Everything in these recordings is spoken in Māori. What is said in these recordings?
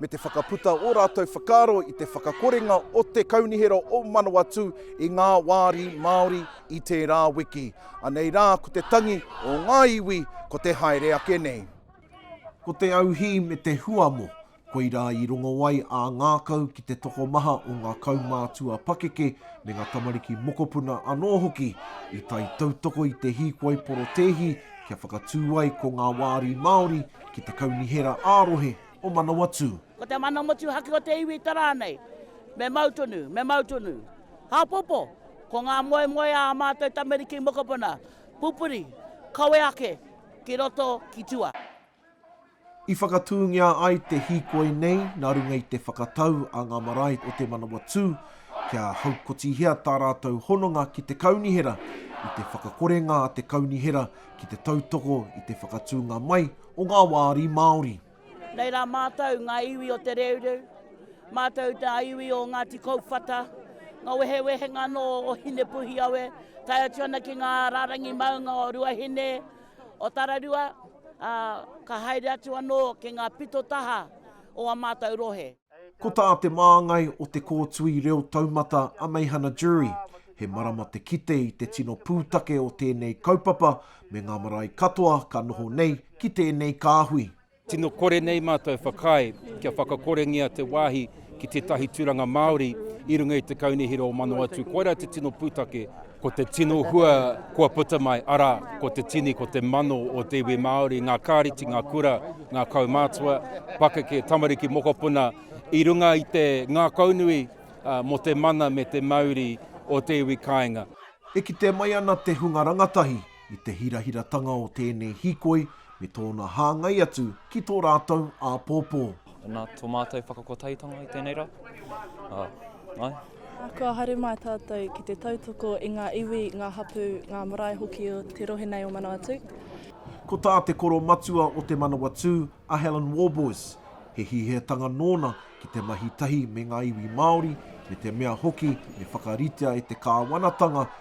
me te whakaputa ō rātou whakaaro i te whakakorenga o te Kaunihera o Manawatū i ngā wāri Māori i tērā wiki. Anei rā ko te tangi o ngā iwi ko te haere ake nei. Ko te auhī me te huamo, koirā i rongo ai ā ngākau ki te tokomaha o ngā kaumātua pakeke me ngā tamariki mokopuna anō hoki i tae tautoko i te hīkoi porotēhi kia whakatū ai ko ngā wāri Māori ki te kaunihera ā-rohe o Manawatū. Ko te mana motuhake o te iwi te rā nei, me mau tonu, me mau tonu. Hāpopo, ko ngā moemoeā ā mātou tamariki mokopuna, pupuri, kawe ake ki roto, ki tua. I whakatūngia ai te hīkoi nei nā runga i te whakatau a ngā marae o Te Manawatū kia haukotihia tā rātou hononga ki te kaunihera, i te whakakorenga a te kaunihera ki te tautoko i te whakatūnga mai o ngā wāri Māori. Nei rā mātou, ngā iwi o Te Reureu, mātou ngā iwi o Ngāti Kouwhata, ngā wehewehenga anō o Hinepuhiawe, tae atu ana ki ngā rārangi maunga o Ruahine, o Tararua, ā, ka haere atu anō ki ngā pito taha o ā mātou rohe. Ko tā te māngai o Te Kōtui Reo Taumata a Meihana Durie, he marama te kite i te tino pūtake o tēnei kaupapa me ngā marae katoa ka noho nei ki tēnei kāhui. Tino kore nei mātou whakaae kia whakakorengia te wāhi ki tētahi tūranga Māori i runga i te Kaunihera o Manawatū, koirā te tino pūtake. Ko te tino hua kua puta mai, arā, ko te tini, ko te mano o te iwi Māori, ngā kāreti, ngā kura, ngā kaumātua, pakeke, tamariki, mokopuna, i runga i te ngākaunui mō te mana me te mauri o te iwi kāinga. E kitea mai ana te hunga rangatahi i te hirahiratanga o tēnei hīkoi me tōna hāngai atu ki tō rātou āpōpō. Nā tō mātou whakakotaitanga i tēnei rā. Ā, āe. Kua haere mai tātou ki te tautoko i ngā iwi, ngā hapū, ngā marae hoki o te rohe nei o Manawatū. Ko tā te koro matua o Te Manawatū, a Helen Warboys, he hīheatanga nōna ki te mahi tahi me ngā iwi Māori, me te mea hoki me whakaritea e te kāwanatanga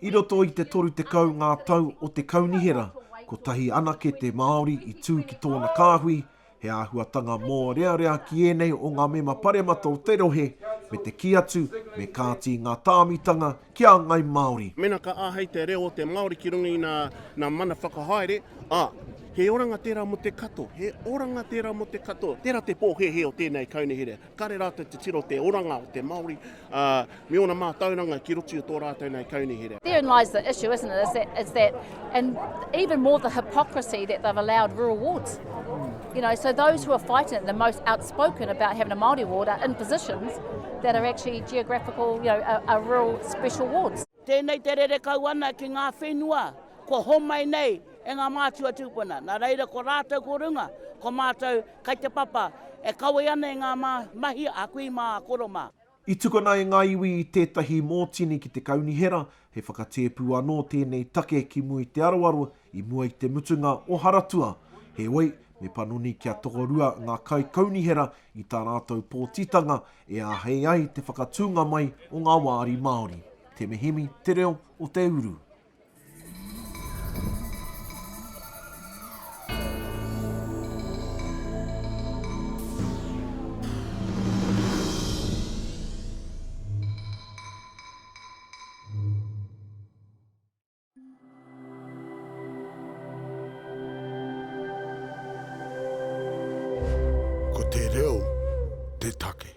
I roto i te 30 ngā tau o te Kaunihera, kotahi anake te Māori i tū ki tōna kāhui, he āhuatanga mōrearea ki ēnei o ngā mema paremata o te rohe, me te kī atu, me kāti ngā tāmitanga ki a Ngai Māori. Mēnā ka āhei te reo o te Māori ki runga i nā mana whakahaere, ā, he oranga tērā mō te katoa, he oranga tērā mō te katoa. Tērā te pōhēhē o tēnei Kaunihera. Kare rātou te tiro te oranga o te Māori, ā, me ōna mātauranga ki roto i tō rātou nei kaunihera. Therein lies the issue, isn't it? Is that, is that, and even more the hypocrisy that they've allowed rural wards. You know, so those who are fighting it, the most outspoken about having a Māori ward are in positions that are actually geographical, you know, are, are rural special wards. Tēnei te rere kau ana ki ngā whenua kua homai nei e ngā mātua tūpuna, nā reira ko rātou ko runga, ko mātou kai te papa e kawe ana i ngā mahi a kui mā, a koro mā. I tukuna e ngā iwi tētahi mōtini ki te kaunihera, he whakatēpu anō tēnei take ki Mui Te Arawaru I mua i te mutunga o Haratua, heoi, me panoni kia tokorua ngā kaikaunihera i tā rātou pōtitanga e āhei ai te whakatūnga mai o ngā wāri Māori. Te mihimi te reo o te uru. Ko te reo te take.